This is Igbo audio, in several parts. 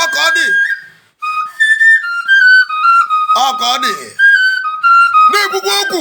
ọka ọ dị ọka ọ dị na-ekwukwa okwu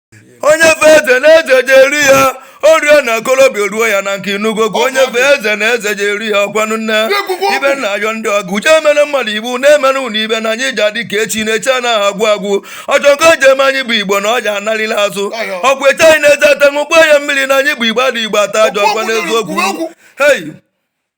onye fe eze na eze je eru ya o ruo ya na okorobịa ruo ya na nka ị nụgo okwu onye fe eze na eze je eru ya ọkwanụ nne ibe nna ayọ ndị ọgụ uche emere mmadụ iwu na-emere unu ibe na anyị je adị ka echi na echi anaghị agwụ agwụ ọchọ nke o ji eme anyị bụ igbo na ọ ji analịla azụ ọkwa eche anyị na-eze ata ṅụkwa ya mmiri na anyị bụ igbo adị igbo ata ajọ ọkwa n'eziokwu hei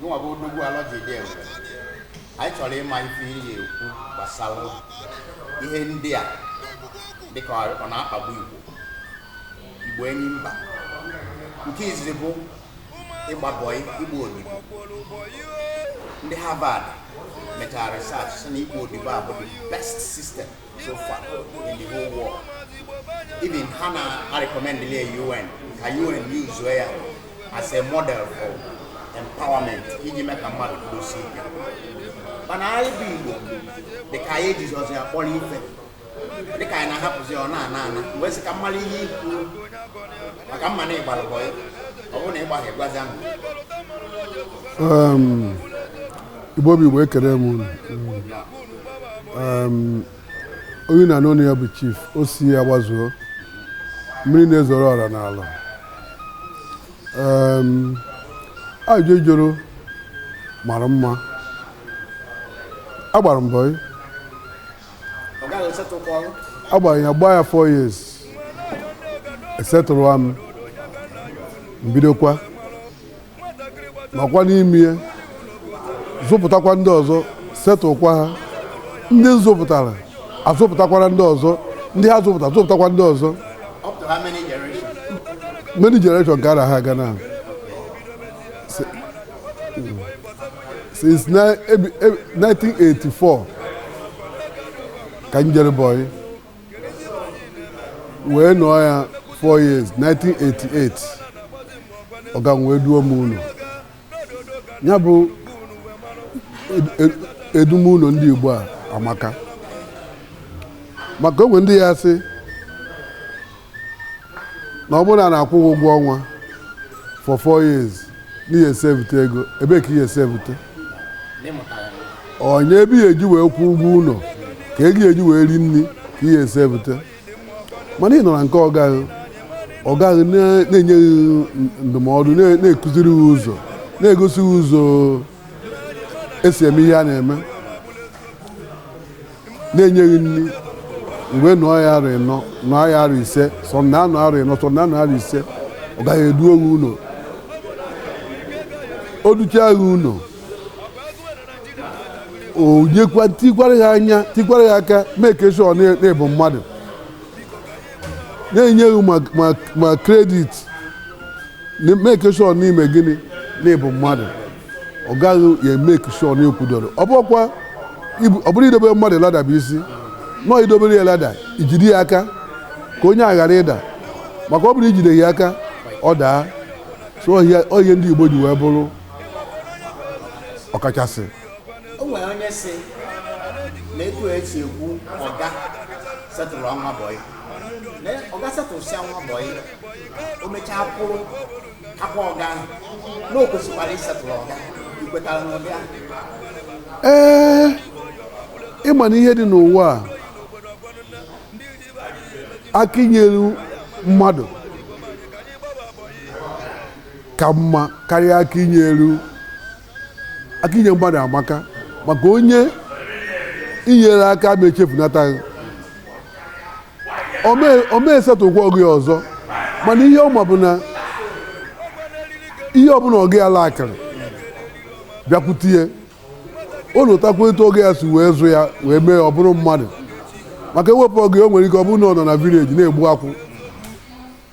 Gịnwa bụ odogwu Alọ jide enwere anyị chọrọ ịma ife ị ya-ekwu gbasara ihe ndị a dịka ọ na-akpagbu Igbo Igbo enyi mba nke izizi bụ ịgba bọị ịgba odibo ndị Harvard mechara research sị na ịgba odibo a bụ the best system so far in the whole world even ha na recommend le UN ka UN use ya as a model for empowerment iji mee ka mmadụ kwudosie ike mana anyị bụ Igbo dị ka anyị ejizirọzi ya kpọrọ ife dị ka anyị na-ahapụzi ọ na-ana ana wee sị ka m malụ ihe ị ya-ekwu maka m ma na ị gbara bọyị ọ bụrụ na ị gbaghị gwazie anyị Igbo bụ Igbo ekele m unu onye ị na-anụ onu ya bụ chief Ossy Agbazuo mmiri na-ezoro ọra n'Alọ ajụjụ ị jụrụ mara mma agbara m bọyị agbara ya gbaa ya 4 years e settle m m bidokwa nọkwa n'ime ya zụpụtakwa ndị ọzọ settlekwa ha ndị m zụpụtara azụpụtakwara ndị ọzọ ndị ha zụpụta zụpụtakwa ndị ọzọ many generation ka a na-aga na since 1984 ka m jere bọyị wee nọọ ya 4 years 1988 ọga m wee duo m ụnọ ya bụ edum ụnọ ndị Igbo a amaka maka o nwe ndị ya-asị na ọ bụrụ na a na-akwụ gị ụgwọ ọnwa for four years na ị ya-esevute ego ebee ka ị ya-esevute onye ebe ị ya-eji wee kwụọ ụgwọ ụlọ ka ego ị ya-eji wee ri nri ka ị ya-esevute mana ị nọ na nke ọga gị ọga gị na- na-enye gị ndụmọdụ na- na-akụziri gị ụzọ na-egosi gị ụzọ esi eme ihe a na-eme na-enye gị nri mgbe nọ ya arọ ịnọ nọ ya arọ ise some na-anọ arọ ịnọ some na-anọ arọ ise ọga gị eduo gị ụlọ o duchaa gị ụlọ o nyekwa tikwara gị anya tikwara gị aka make sure na- na ị bụ mmadụ na-enye gị ma- ma- ma kredit na- make sure na ị mee gịnị na ị bụ mmadụ ọga gị ya make sure na i kwudoro ọ bụkwa ibu- ọ bụrọ idobe mmadụ lada bụ isi na ọ i dobere ya lada i jide ya aka ka onye a ghara ịda maka ọ bụrụ i jideghị ya aka ọ daa so ọ ihe a- ọ ihe ndị igbo ji wee bụrụ ọkachasị o nwere onye si na etu a esi ekwu ọga setụrụọ nwa bọyị na ọga setụrụsịa nwa bọyị o mechaa kwụrụ akwa ọga ahụ na o kwesịkwara ịsetụrụ ọga i kwetara n'ụdị ahụ ee ị ma na ihe dị n'ụwa a aka i nyere mmadụ ka mma karịa aka i nyere aka inye mmadụ amaka maka onye i nyere aka ama echefunata gị ọ ma esetụkwa ọga ya ọzọ mana ihe ọma bụ na ihe ọbụla ọga ya lakịrị bịakwute ya o lotakwa etu ọga ya si wee zụ ya wee mee ọ bụrụ mmadụ maka e wepụ ọga ya o nwere ike ọ bụrụ na ọ nọ na vileji na-egbu akwụ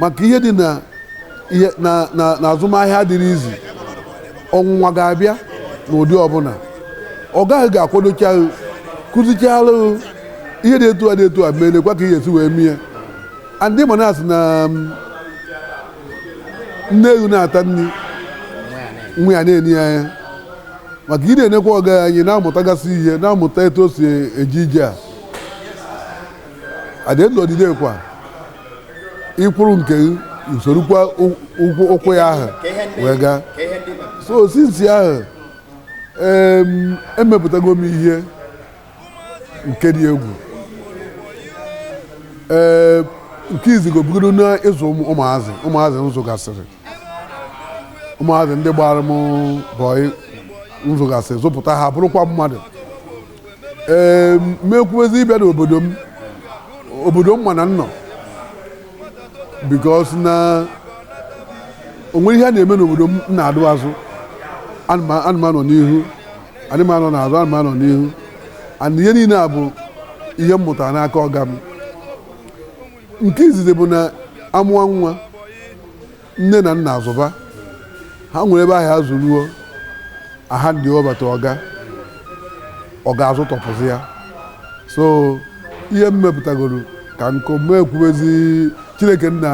maka ihe dị na ihe na na na azụmahịa adịrọ easy ọnwụnwa ga-abịa n'ụdị ọbụla ọga gị ga-akwadocha gị kụzichara gị ihe dị etu a dị etu a mee lekwa ka ị ya-esi wee mee ya and ị ma na a sị na um, nne ewu na-ata nri nwa ya na-ene ya anya maka ị na-enekwa ọga anya ị na-amụtagasị ihe na-amụta etu o si eje ije ya at the end of the day kwa ị kwụrụ nke gị i sorokwa ụ- ụkwụ ụkwụ ya ahụ wee gaa so since ahụ em, emepụtago m ihe nke dị egwu ee nke izizi bụgodu na ịzụ ụmụ- ụmụazị ụmụazị m zụgasịrị ụmụazị ndị gbara m bọyị m zụgasịrị zụpụta ha bụrụkwa mmadụ ee m ekwubezi ịbịa n'obodo m obodo m mana nnọ because na o nwere ihe a na-eme n'obodo m na-adụ azụ anụmanụ n'ihu anụmanụ na-azụ anụmanụ n'ihu and ihe niile a bụ ihe m mụtara n'aka ọga m nke izizi bụ na a mụọ nwa nne na nna azụba ha nwere ebe ahụ azụruo aha ndị ọbata ọga ọga azụtopụzie ya so ihe m mepụtagoro ka nkụ m ekwubezi chineke nna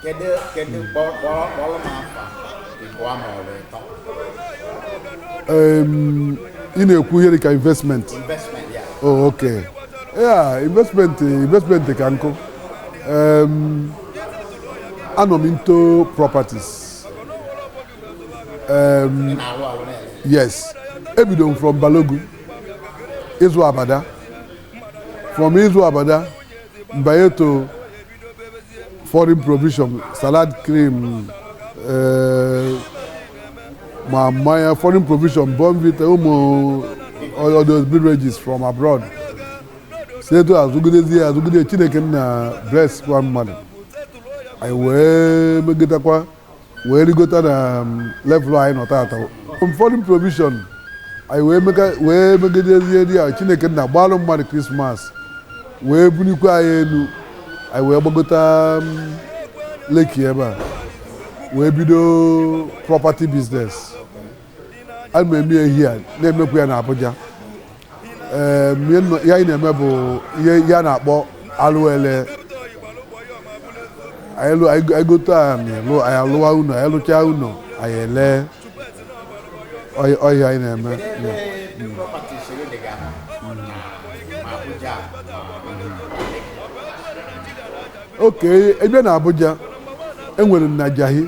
kedu kedu kpọrọ kpọrọ kpọrọ m afa ịbụọ ma ọ bụ ịtọ em, ị na-ekwu ihe dịka investment investment ya oh, okay ya investment investment ka nkụ Em, anọ m into properties um, yes ebido m from Balogun ịzụ abada from ịzụ abada m banye to foreign provision salad cream eh, ma mmanya foreign provision Bournvita ụmụ all those beverages from abroad si etu a zụgidezi ya azụgide chineke nna blesskwa mmadụ anyị wee megotakwa wee rigota na um, level anyị nọ tata na foreign provision anyị wee mega- wee megidezidi ya chineke nna gbalụ mmadụ Christmas wee bulikwe anyị elu anyị wee gbagota um, Lekki ebe a wee bido property business ana m eme ya here na-emekwa ya na Abuja Em, ihe nọ- ihe anyị na-eme bụ ihe ihe a na-akpọ alụ ele anyị lụ- anyị go- anyị gote anị lụ anyị alụwa ụnọ anyị lụchaa ụnọ anyị ele ọ ihe a ọ ihe anyị na-eme okay ebe a na Abuja enwere m na Jahi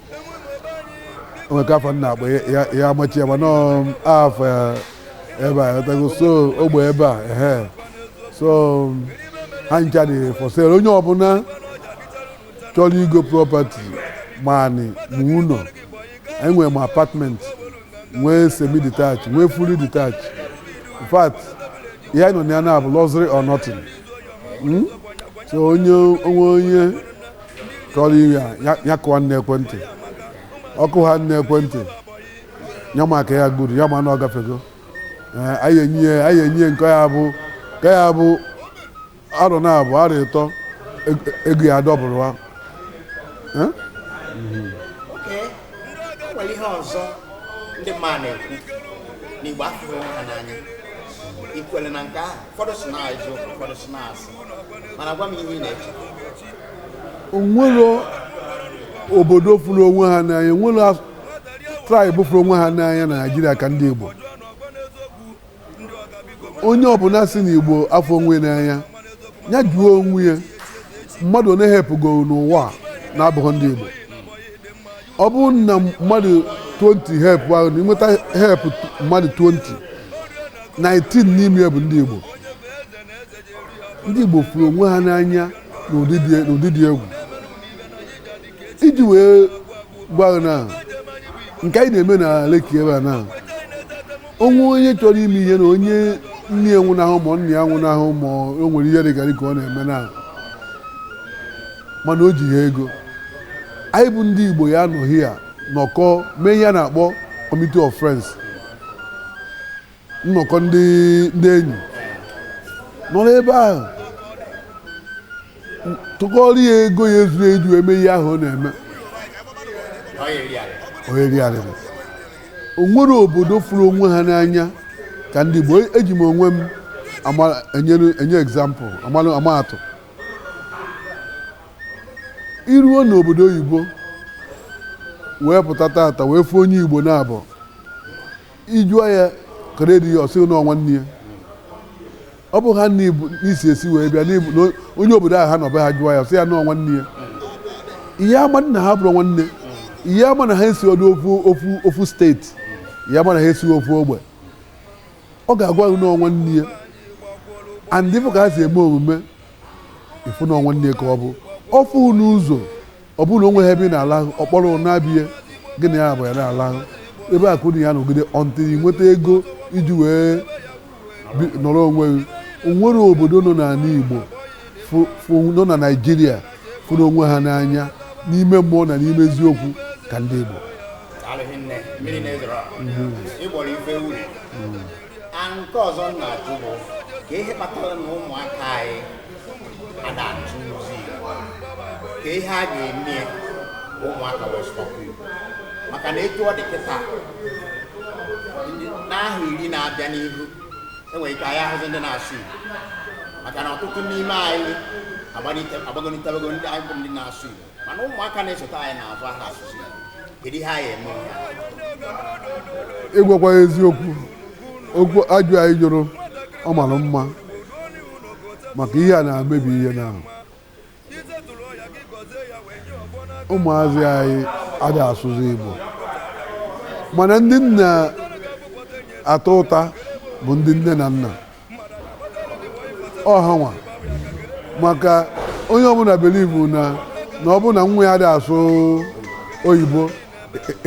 o nwe ka fa na-akpọ ya ya amachi ya mana ọ afọ ya ebe a ghọtago so ogbe ebe a ehe so ha ncha dị for sale onye ọbụna chọlụ igo property ma anị ma ụnọ enwe m apartment nwee semi detach nwee fully detach in fact ihe anyị nọ na ya now bụ luxury or nothing Mm? so onye onwe onye kọrọ ya ya- ya kụwa n'account ọ kụwa n'account ya ma ka ya gburu ya ma na ọ gafego Ee, anyị enyi ya anyị enyi ya nke ya bụ nke ya bụ arọ naabọ arọ ịtọ eg- ego ya dọbụrụ wa Ee? Oke, o nwere ihe ọzọ ndị mmadụ na-ekwu na Igbo afụghị onwe ha n'anya i kwere na nke ahụ ụfọdụ sị na-ajụ ụfọdụ sị na asị mana gwa m ihe ị na-eche o nwere obodo fụrụ onwe ha n'anya o nwere as- tribe fụrụ onwe ha n'anya na Naịjirịa ka ndị igbo onye ọbụla sị na igbo afụrọ onwe n'anya ya jụọ onwe ya mmadụ one helpụgoro n'ụwa a na-abụghị ndị igbo ọ bụrụ na mmadụ 20 help ahụ na i nweta help mmadụ 20 19 n'ime ya bụ ndị igbo ndị Igbo fụrụ onwe ha n'anya n'ụdị dị egwu iji wee gwa na nke anyị na-eme na Lekki ebe a na o nwee onye chọrọ ime ihe na onye nne ya nwụnahụ ma nna ya nwụnahụ ma o nwere ihe dịkarị ike ọ na-eme na mana o jiha ego anyị bụ ndị Igbo ya-anọ here nọkọọ mee ihe a na-akpọ committee of friends nnọkọ ndị ndị enyi nọrọ ebe ahụ tụkọrọ ya ego ya-ezuru iji eme ihe ahụ ọ na-eme oyeriarịrị o nwere obodo fụrụ onwe ha n'anya ka ndị Igbo eji m onwe m ama- enyere- enye example amalụ ama atụ i ruo n'obodo oyibo wee pụta tata wee fụ onye Igbo na-abụ ị jụọ ya kere di ya ọ sị na ọ nwanne ya ọ bụ ha nne n'isi esi wee bịa onye obodo ahụ ha nọ be ha jụọ ya ọ sị ya na ọ nwanne ya ị ya-ama na ha bụrụ nwanne ị ya-ama na ha esirọdụ ofu ofu ofu state ị ya-ama na ha esi ofu ogbe ọ ga-agwa gị na ọ nwanne ya and ị fụ ka ha si eme omume ị fụ na ọ nwanne ka ọ bụ ọ fụ n'ụzọ ọ bụrụ na o nweghị ebe ị na-alahụ ọ kpọrọ naa be ya gị na ya abụọ ya na-alahụ ebe ahụ ụnụ ya-anọgide until ị nweta ego iji wee bi- nọrọ onwe gị o nwere obodo nọ n'ala Igbo fụ- fụ- nọ na Naịjirịa fụrụ onwe ha n'anya n'ime mmụọ na n'ime eziokwu ka ndị Igbo alụghị nne mmiri na-ezoro ịgbọrọ ife uri nke ọzọ m na-ajụ bụ kee ihe kpatara na ụmụaka anyị ada asụzi Igbo kee ihe a ga-eme ya ka ụmụaka wee sụba Igbo maka na etu ọ dị kịta n'ahọ iri na-abịa n'ihu enwere ike anyị ahụzi ndị na-asụ Igbo maka na ọtụtụ n'ime anyị agbanitebego ndị anyị bụ ndị na-asụ Igbo mana ụmụaka na-esote anyị n'azụ aha asụzi kedu ihe anyị eme ịgwakwa eziokwu okwu ajụ anyị jụrụ ọ mara mma maka ihe a na-emebi ihe na ụmụazị anyị adị asụzi Igbo mana ndị m na-ata ụta bụ ndị nne na nna ọ hanwa maka onye ọbụla believe na na ọ bụrụ na nwa ya dị asụ oyibo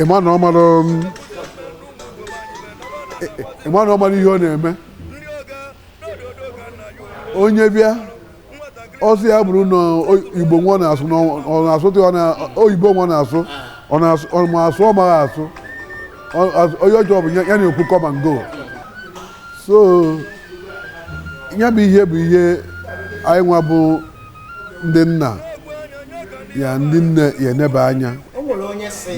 ịma na ọ mara um, ị- ị- ịma na ọ mara ihe ọ na-eme onye bịa ọ sị ya bụrụ na oyibo nwa ọ na-asụ na ọ na-asụte oyibo nwa na-asụ ọ na-asụ ọ ma asụ ọ maghị asụ Ọ- as- ihe ọ chọ bụ ya ya na-ekwu come and go so ya bụ ihe bụ ihe anyị nwa bụ ndị nna ya ndị nne ya-eneba anya o nwere onye sị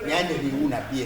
na ya nyere iwu na be ya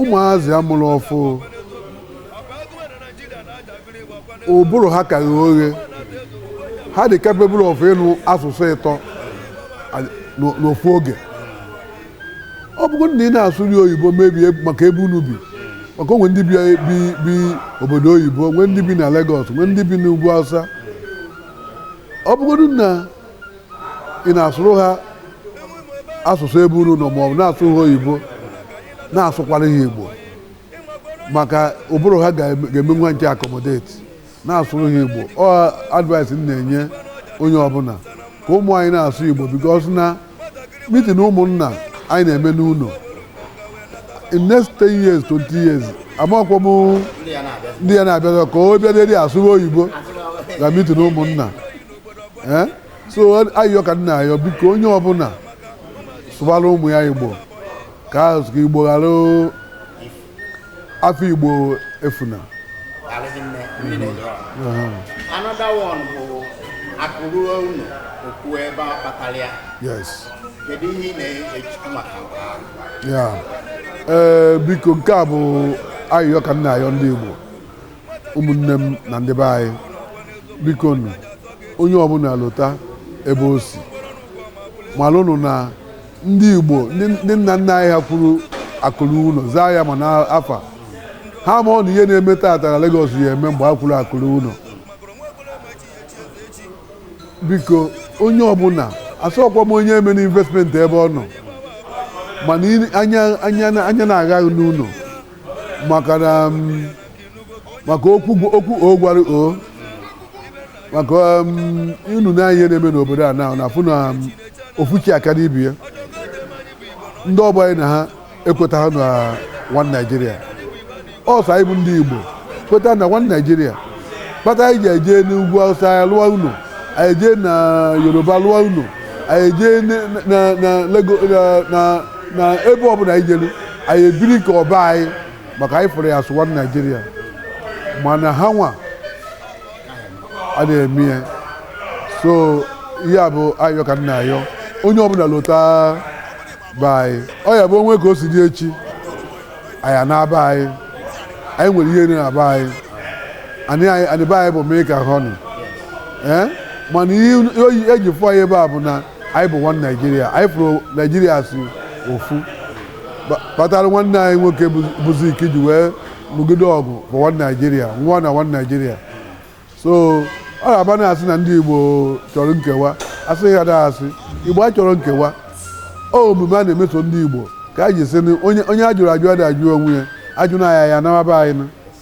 ụmụazị a mụrụ ọfụụ ụbụrụ ha ka ghe oghe ha dị capable of ịnụ asụsụ ịtọ a- n'o- n'ofu oge ọ bụrụ na ị na-asụrụ oyibo maybe maka ebe unu bi maka o nwee ndị bi bi bi obodo oyibo nwee ndị bi na Lagos nwee ndị bi n'ugwu Hausa ọ bụrụ na ị na-asụrụ ha asụsụ ebe unu nọ maọbụ na-asụ ha oyibo na-asụkwara ha igbo maka ụbụrụ ha ga-enwe ike accommodate na-asụrụ ha igbo ọ advice m na-enye onye ọbụla ka ụmụ anyị na-asụ igbo because na mitin ụmụnna anyị na-eme n'ụlọ in next 10 years 20 years amakwa m ndị ya na-abịa ka o bịa asụrụ oyibo na mitin ụmụnna ee so ayịyọ ka m na-ayọ biko onye ọbụla sụbara ụmụ ya igbo ka asụsụ igbo ghara afa igbo efuna another one bụ akụrụ unu okwu ebe a kpatara ya yes kedu ihe ị na-echekwu maka ya ee biko nke a bụ ayịyọ ka m na-ayọ ndị igbo ụmụnne m na ndị be anyị biko nụ onye ọbụla lota ebe o si malụnụ na ndị igbo ndị ndị nna nna anyị ha kwuru akụ ruo ụlọ zaa ya ma n'afa ha marọ na ihe na-eme tata na Lagos ya eme mgbe ha kwuru akụ ruo ụlọ biko onye ọbụla asịrọkwa m onye emena investment ebe ọ nọ mana ị- anya anya anya na-agha n'ụlọ maka na um, maka okwu okwu o gwara o maka um, unu na ihe na-eme n'obodo a na na afụ na um, ofuchi aka n'ibi ya ndị ọgbọ anyị na ha ekwetahọ na one Nigeria ọ sọ anyị bụ ndị Igbo kweta na one Nigeria kpata anyị ji eje n'ugwu Hausa anyị lụọ ụnọ anyị jee na Yoruba lụọ ụnọ anyị jee na- na na Lagos na- na na ebe ọbụla anyị jelu anyị ebiri ka ọ be anyị maka anyị fụrụ ya as one Nigeria mana ha nwa ada eme ya so ihe a bụ ayọ ka m na-ayọ onye ọbụla lota be anyị ọ ya-abụ o nwee ka o si dị echi anyị anaba be anyị anyị nwere ihe na be anyị anị anị be anyị bụ milk and honey ee mana ihe e ji fụ anyị ebe a bụ na anyị bụ one Nigeria anyị fụrụ Nigeria as ofu kpatara nwanne anyị nwoke bụ Zik ji wee nụgide ọgụ bụ one Nigeria one na one Nigeria so ọ na-abụ a na-asị na ndị igbo chọrọ nkewa asị ha na-asị igbo achọrọ nkewa ọ omume a na-emeso ndị igbo ka anyị ji sị onye a jụrụ ajụ ada ajụ onwe ya ajụ na anyị ya-anaba be anyị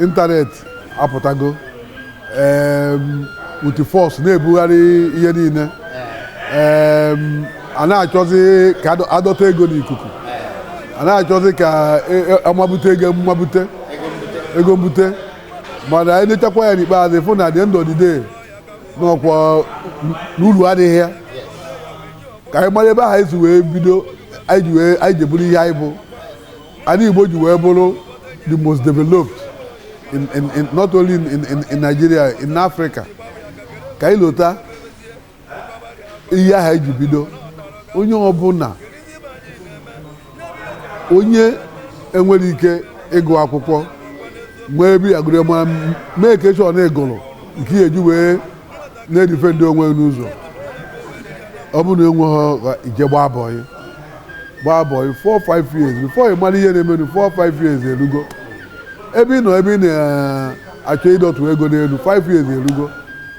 internet apụtago with force na-ebugharị ihe niile a na-achọzi ka a dọta ego n'ikuku a na-achọzi ka e, e, amabute ego mmabute ego mbute mana anyị nechakwa ya n'ikpeazụ fụ na dị ndụ ọdịde n'ọkwa na ulu adịghị ya ka anyị mara ebe a ha si wee bido anyị ji bụrụ ihe anyị bụ Anyị Igbo ji wee bụrụ the most developed in, in, in, not only in, in, in Nigeria in Africa ka anyị lota ihe a ha ji bido onye ọbụla onye enwere ike ịgụ akwụkwọ nwee ebe a gụru a make sure na ị gụru nke ya e ji wee na-edifendị onwe n'ụzọ ọ bụrụ na enweghị i jee gbaa bọyị gbaa bọyị 4-5 years before ị mara ihe na-emenụ 4-5 years erugo ebe ị nọ ebe ị na-achọ ịdọtụ ego n'elu 5 years erugo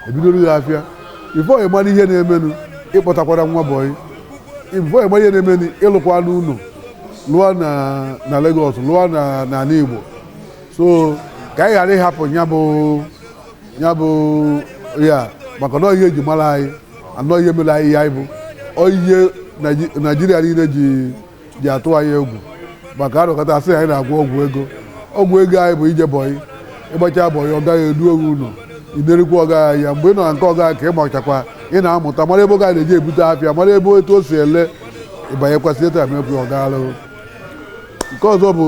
e bidoro gị afịa before ị mara ihe na-emenụ ị kpọtakwara nwa bọyị before ị mara ihe na-emenụ ị lụkwanụ ụlọ lụọ na Lagos lụọ n'ala Igbo so ka anyị ghara ịhapụ ya bụ ya bụ ya maka na ihe e ji mara anyị anọ ihe mere anyị ya anyị bụ ihe Nigeria niile ji ji atụ anyị egwu maka arụkọta a sị anyị na-agwọ ọgwụ ego ọgwụ ego anyị bụ ije bọyị ị gbachaa bọyị ọga gị eduo gị ụlọ i na-erikwa ọga ya mgbe ị nọ na nke ọga ka ị machakwa ị na-amụta mara ebe ọga na-eje ebute afịa mara ebe etu o si ele ịbanyekwasị etu amekwu ọga alụghị nke ọzọ bụ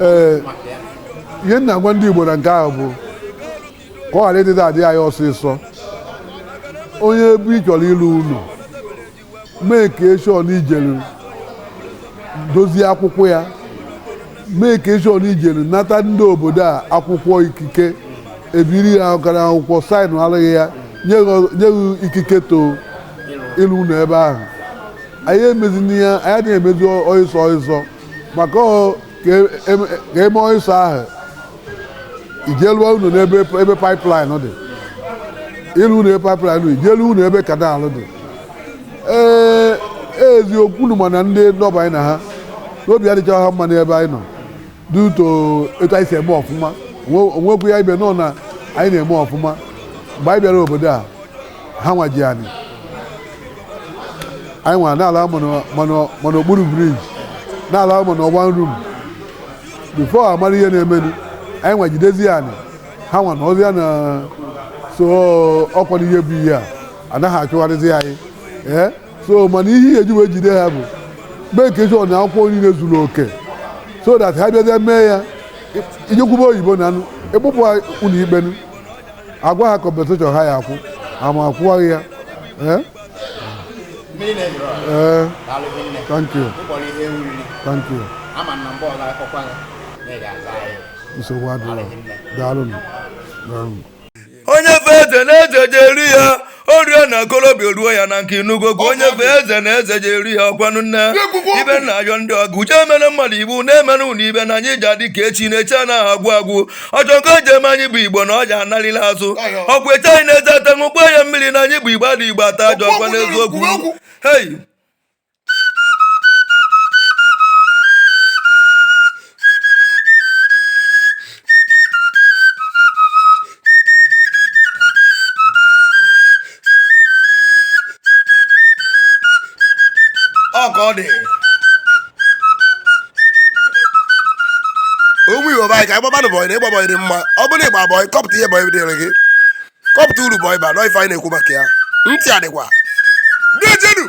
ee ihe m na-agwa ndị Igbo na nke ahụ bụ ka ọ ghara ịdị na-adị anyị ọsịsọ onye ebe ị chọrọ ịlụ ụlọ make sure na i jelu dozie akwụkwọ ya make sure na i jelu nata ndị obodo a akwụkwọ ikike e biri ya aka n'akwụkwọ saịnụalụ gị ya nye gị ikike to ịlụ ụlọ ebe ahụ anyị emezi ya anyị adịghị emezi ọịsọ ọịsọ maka ọ ka e- e- ka eme ọịsọ ahụ i jee lụọ ụnọ n'ebe ebe pipeline dị ị lụ ụnọ ebe pipeline dị i jee lụ ụnọ ebe canal dị ee eziokwu unu ma na ndị nọ ebe anyị na ha nọ obi adịchaghị ha mma n'ebe anyị nọ due to etu anyị si eme ọfụma O we- o wekwu ya iwe na anyị na-eme ọfụma mgbe anyị bịara obodo a ha nwa ji anyị anyị nwa na-alama n'okpuru bridge na-alama na one room before a mara ihe na-emenu anyị nwa jidezi anyị ha nwa nọzia na so ọkwa n'ihe bụ ihe a anaghị achụgharịzi anyị ee so mana ihe ihe e ji wee jide ha bụ make sure na akwụkwọ niile zuru oke so that ha bịazie mee ya i jee kwube oyibo na anụ ịkpụpụ ụlọ ikpenu a gwa ha compensation ha ya akwụ ama akwụwaghị ya ee ee thank you thank you nsogbu adịla daalụ onye fe eze na eze ji eru ya orie na okorobịa ruo ya na nke inugo gwa onye fe eze na eze ji eru ya ọkwanụ nne ibe na-ayọ ndị ọgụ uche emere mmadụ iwu na-emere ụlọ ibe na anyị ji adị ka echi na echi anaghị agwụ agwụ ọjọ nke o ji eme anyị bụ igbo na ọja analila azụ ọkwa eche anyị na-eze ata ṅụkwa ya mmiri na anyị bụ igbo adị igbo ata ajọ ọkwa n'eziokwu hei ọ ka ọ dị ụmụ igbo be anyị ka anyị gbabanụ bọyị na ịgba bọyị dị mma ọ bụrụ na ị gba bọyị kọpụta ihe bọyị dịrị gị kọpụta uru bọyị baa na ọ ife anyị na-ekwu maka ya ntị adịkwa dejenụ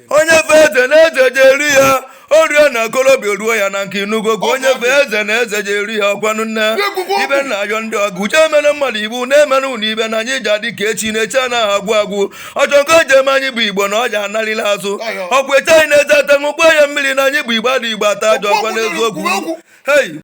onye fe eze na eze je-eru ya o ru ya na okorobịa ruo ya na nka ị nụgokwa onye fe eze na eze je-eru ya ọkwanụ nne ibe nna ayọ ndị ọgụ uche emere mmadụ iwu na-emere unu ibe na anyị je-adị ka echi na echi anaghị agwụ agwụ ọ chukwu je-eme anyị bụ igbo na ọ ji anaghị ala azụ ọkwa eche anyị na-eze ata ṅụkwa ya mmiri na anyị bụ igbo ndị igbo ata ajọ ọkwa n'eziokwu hei